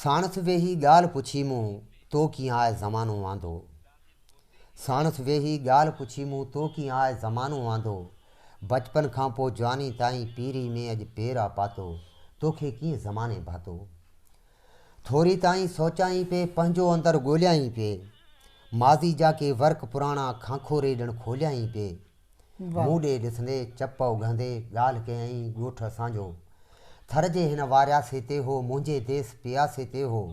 ساڻس ويهي ڳالهه پڇي مون تو ڪيئن آء زمانو واندو ساڻس ويهي ڳالهه پڇي مون تو ڪيئن آء زمانو واندو بچپن کان پوء جواني تائين پيري ۾ اڄ پير آ پاتو توکي ڪيئن زماني ڀاتو ٿوري تائين سوچائين پي پنهنجو اندر ڳوليائين پي ماضي جا ڪي ورق پراڻا کانکوري ڏڻ کوليائين پي مون ڏي ڏسندي چپ اگهندي ڳالهه ڪيائين ڳوٺ اسان جو ٿر جي هن وارياسي تي هو منهنجي ديس پياسي تي هو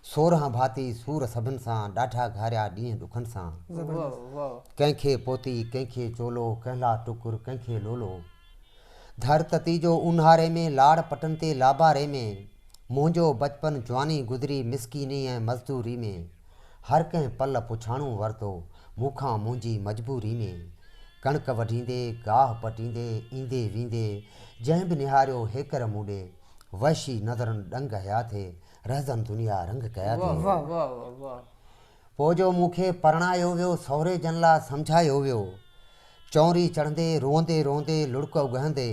سورهن ڀاتي سور سڀن سان ڏاڍا گهاريا ڏينهن ڏکن سان ڪنهن کي پوتي ڪنهن کي چولو ڪنهن لا ٽڪر ڪنهن کي لولو ڌر تتي جو اونهاري ۾ لاڙ پٽن تي لاباري ۾ منهنجو بچپن جواني گذري مسڪيني ۽ مزدوري ۾ هر ڪنهن پل پڇاڻو ورتو مون کان منهنجي مجبوري ۾. ڪڻڪ وڍيندي، گاهه پٽيندي، ايندي ويندي، جنهن به نهاريو هيڪر مون ڏي، وحشي نظرن ڏنگ هيا ٿي، رهزن دنيا رنگ ڪيا ٿي. پوء جو مون کي پرڻايو ويو، سهري جن لا سمجهايو ويو. چونري چڙهندي، روئندي روئندي، لڙڪ اگهندي،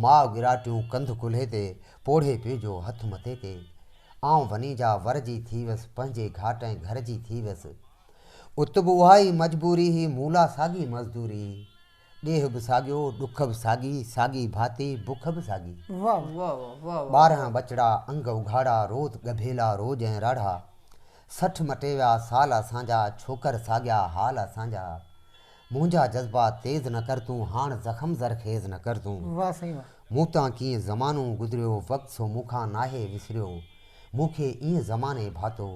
ماء وراٽيون ڪنڌ ڪلهي تي، پوڙهي پنهنجو هٿ مٿي تي. آئون وني جا ور جي ٿي ويس، پنهنجي گهاٽ ۽ گهر جي ٿي ويس. ات به اها ئي مجبوري هئي، مون لا ساڳي مزدوري هئي. ڏيهه به ساڳيو، ڏک به ساڳي، ساڳي ڀاتي بک به ساڳي. ٻارهن ٻچڙا انگ اگهاڙا، روت ڳڀيلا روڄ ۽ راڙها. سٺ مٽي ويا سال اسان جا، ڇوڪر ساڳيا حال اسان جا. منهنجا جذبات تيز نه ڪر تون هاڻ زخم زرخيز نه ڪر تون واھ سائين واھ. مون تان ڪيئن زمانو گذريو وقت سو مون کان ناهي وسريو مون کي ائين زماني ڀاتو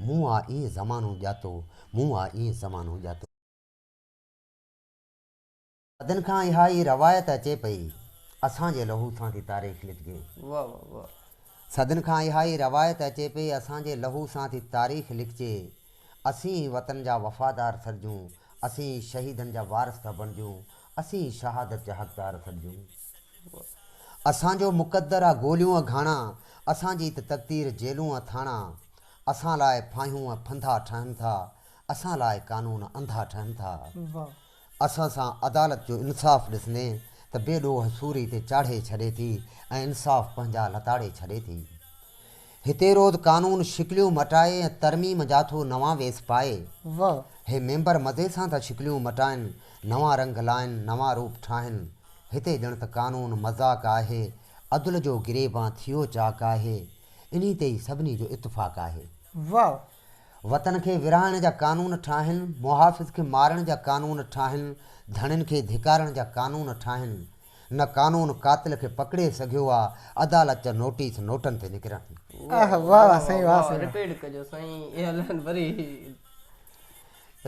مون آ ائين زمانو ڄاتو مون آ ائين زمانو ڄاتو. صدين کان اها ئي روايت اچي پئي اسان جي لهو سان ٿي تاريخ لکجي. واھ واھ واھ. صدين کان اها ئي روايت اچي پئي اسان جي لهو سان ٿي تاريخ لکجي. اسين ئي وطن جا وفادار سڏجون، اسين ئي شهيدن جا وارث ٿا بڻجون، اسين ئي شهادت جا حقدار سڏجون. اسان جو مقدر آ گوليون ۽ گهاڻا، اسان جي ته تقدير جيلون ۽ ٿاڻا. اسان لاء ڦاهيون ۽ ڦنڌا ٺهن ٿا، اسان لاء قانون انڌا ٺهن ٿا. اسان سان عدالت جو انصاف ڏسندي ته بي ڏوهه سوري تي چاڙهي ڇڏي ٿي ۽ انصاف پنهنجا لتاڙي ڇڏي ٿي. هتي روز قانون شڪليون مٽائي ۽ ترميم جا ٿو نوان ويس پائي. واهه. هي ميمبر مزي سان ٿا شڪليون مٽائن، نوان رنگ لائن، نوان روپ ٺاهن. هتي ڄڻ ته قانون مذاق آهي، عدل جو گريبان ٿيو چاڪ آهي. انهي تي ئي سڀني جو اتفاق آهي. واهه. وطن کي ورهائڻ جا قانون ٺاهن، محافظ کي مارڻ جا قانون ٺاهن، ڌڻين کي ڌڪارڻ جا قانون ٺاهن. نه قانون قاتل کي پڪڙي سگهيو آ عدالت جا نوٽيس نوٽن تي نڪرن. آه واھ واھ سائين واھ سائين واھ. رپيڊ ڪجو سائين اعلان وري.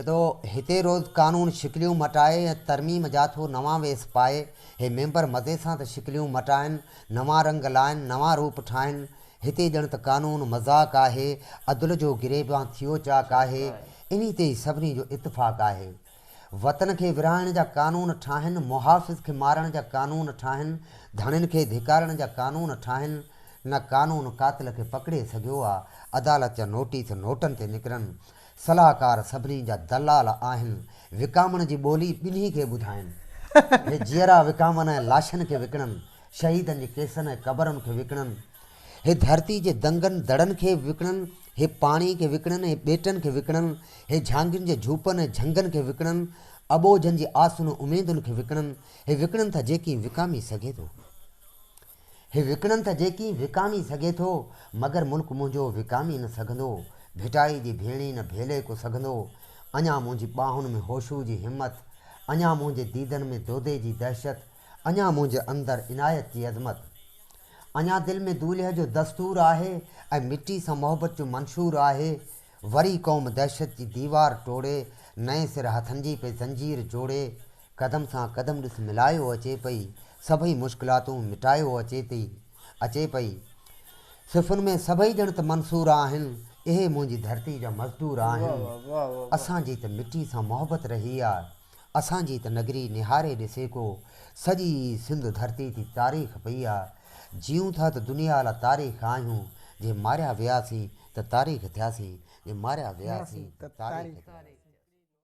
تو هتي روز قانون شڪليون مٽائي ۽ ترميم جا ٿو نوان ويس پائي هي ميمبر مزي سان ته شڪليون مٽائن نوان رنگ لائن نوان روپ ٺاهن هتي ڄڻ ته قانون مذاق آهي عدل جو گريبان ٿيو چاڪ آهي انهي تي ئي سڀني جو اتفاق آهي وطن کي ورهائڻ جا قانون ٺاهن، محافظ کي مارڻ جا قانون ٺاهن، ڌڻين کي ڌڪارڻ جا قانون ٺاهن، نه قانون قاتل کي پڪڙي سگهيو آ، عدالت جا نوٽيس نوٽن تي نڪرن، صلاحڪار سڀني جا دلال آهن، وڪامڻ جي ٻولي ٻنهي کي ٻڌائن، هي جيئرا وڪامن ۽ لاشن کي وڪڻن، شهيدن جي ڪيسن ۽ قبرن کي وڪڻن، هي ڌرتي جي دنگن دڙن کي وڪڻن، هي پاڻي کي وڪڻن، هي ٻيٽن کي وڪڻن، هي جهانگين جي جهوپن ۽ جهنگن کي وڪڻن، اٻوجهن جي آسن ۽ اميدن کي وڪڻن، هي وڪڻن ٿا جيڪي وڪامي سگهي ٿو. هي وڪڻن ٿا جيڪي وڪامي سگهي ٿو، مگر ملڪ منهنجو وڪامي نه سگهندو، ڀٽائي جي ڀيڻي نه ڀيلي ڪو سگهندو، اڃا منهنجي ٻانهن ۾ هوشوء جي همت، اڃا منهنجي ديدن ۾ دودي جي دهشت، اڃا منهنجي اندر عنايت جي عظمت. اڃا دل ۾ دولهه جو دستور آهي ۽ مٽي سان محبت جو منشور آهي وري قوم دهشت جي ديوار ٽوڙي نئين سر هٿن جي پئي زنجير جوڙي قدم سان قدم ڏس ملايو اچي پئي سڀئي مشڪلاتون مٽايو اچي پئي اچي پئي صفن ۾ سڀئي ڄڻ ته منصور آهن اهي منهنجي ڌرتي جا مزدور آهن اسان جي ته مٽي سان محبت رهي آ اسان جي ته نگري نهاري ڏسي ڪو، سڄي سنڌ ڌرتي تي تاريخ پئي آ، جيئون ٿا ته دنيا لا تاريخ آهيون، جي ماريا وياسين ته تاريخ ٿياسين، جي ماريا وياسين ته تاريخ ٿياسين.